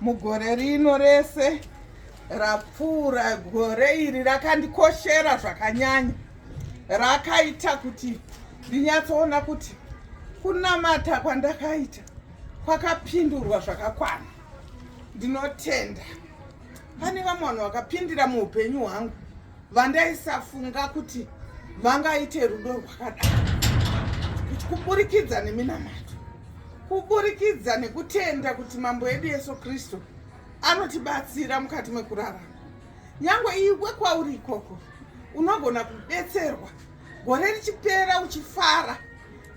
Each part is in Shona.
mugore rino rese rapfuura gore iri rakandikoshera zvakanyanya rakaita kuti ndinyatsoona kuti kunamata kwandakaita kwakapindurwa zvakakwana ndinotenda pane vamwe vanhu vakapindira muupenyu hwangu vandaisafunga kuti vangaite rudo rwakadaro kuti kuburikidza neminamato kuburikidza nekutenda kuti mambo edu yesu kristu anotibatsira mukati mekurarama nyange iwe kwauri ikoko unogona kubetserwa gore richipera uchifara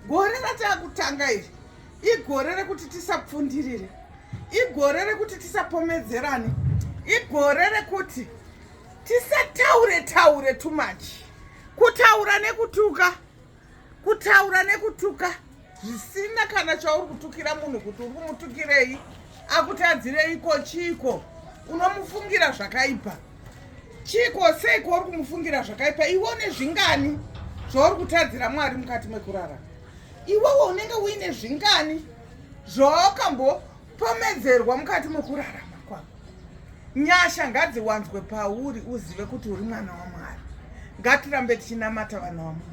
gore ratakutanga iri igore rekuti tisapfundirire igore rekuti tisapomedzerane igore rekuti tisataure taure too much kutaura nekutuka kutaura nekutuka zvisina kana chauri kutukira munhu kuti uri kumutukirei akutadzireiko chiiko unomufungira zvakaipa chiiko seiko uri kumufungira zvakaipa iwe une zvingani zvauri kutadzira mwari mukati mekurara iwewe unenge uine zvingani zvaakambo pomedzerwa mukati mokurarama kwako nyasha ngadziwanzwe pauri uzive kuti uri mwana wamwari ngatirambe tichinamata vana wamwari